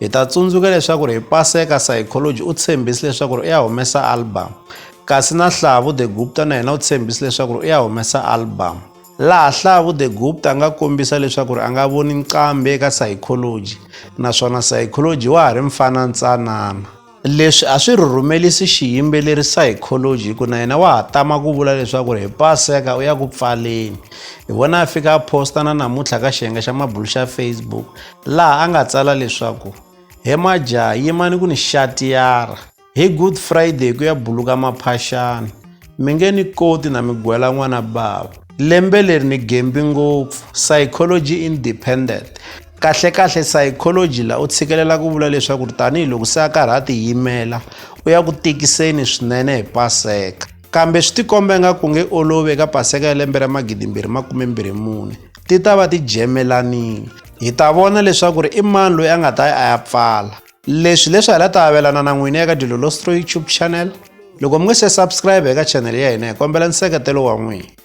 Hi ta tsundzuka leswaku hi Paseka Psychology u tshembise leswaku u ya humesa album, kasi na Hlavu The Gupta na yena u tshembise leswaku u ya humesa album. Laha Hlavu The Gupta a nga kombisa leswaku a nga voni nqambi eka Psychology, naswona Psychology wa ha ri mfana ntsanana. leswi a swi rhurumelisi xiyimbeleri psychology hi ku na yena wa ha tama ku vula leswaku ri hi paseka u ya ku pfaleni hi vona a fika a posta na namuntlha ka xiyenge xa mabulu xa facebook laha a nga tsala leswaku he majaha yimani ku ni xatiyara hi good friday ku ya buluka maphaxana mi nge ni koti na mi gwela n'wana bava lembe leri ni gembi ngopfu psychology independent Kahle-kahle, psychology la u tshikelela ku vula leswaku ri tanihi loko se a karhi a tiyimela u ya ku tikiseni swinene hi Paseka. Kambe swi tikomba nga ku nge olovi eka Paseka ya lembe ra magidimbirhi makume mbirhi mune, ti ta va ti jemelanile. Hi ta vona leswaku ri i mani loyi a nga ta ya a ya pfala. Leswi leswi ha la ta avelana na n'wina eka Dilolostro YouTube channel. Loko mi nge se subscribe eka channel ya hina hi kombela nseketelo wa n'wina.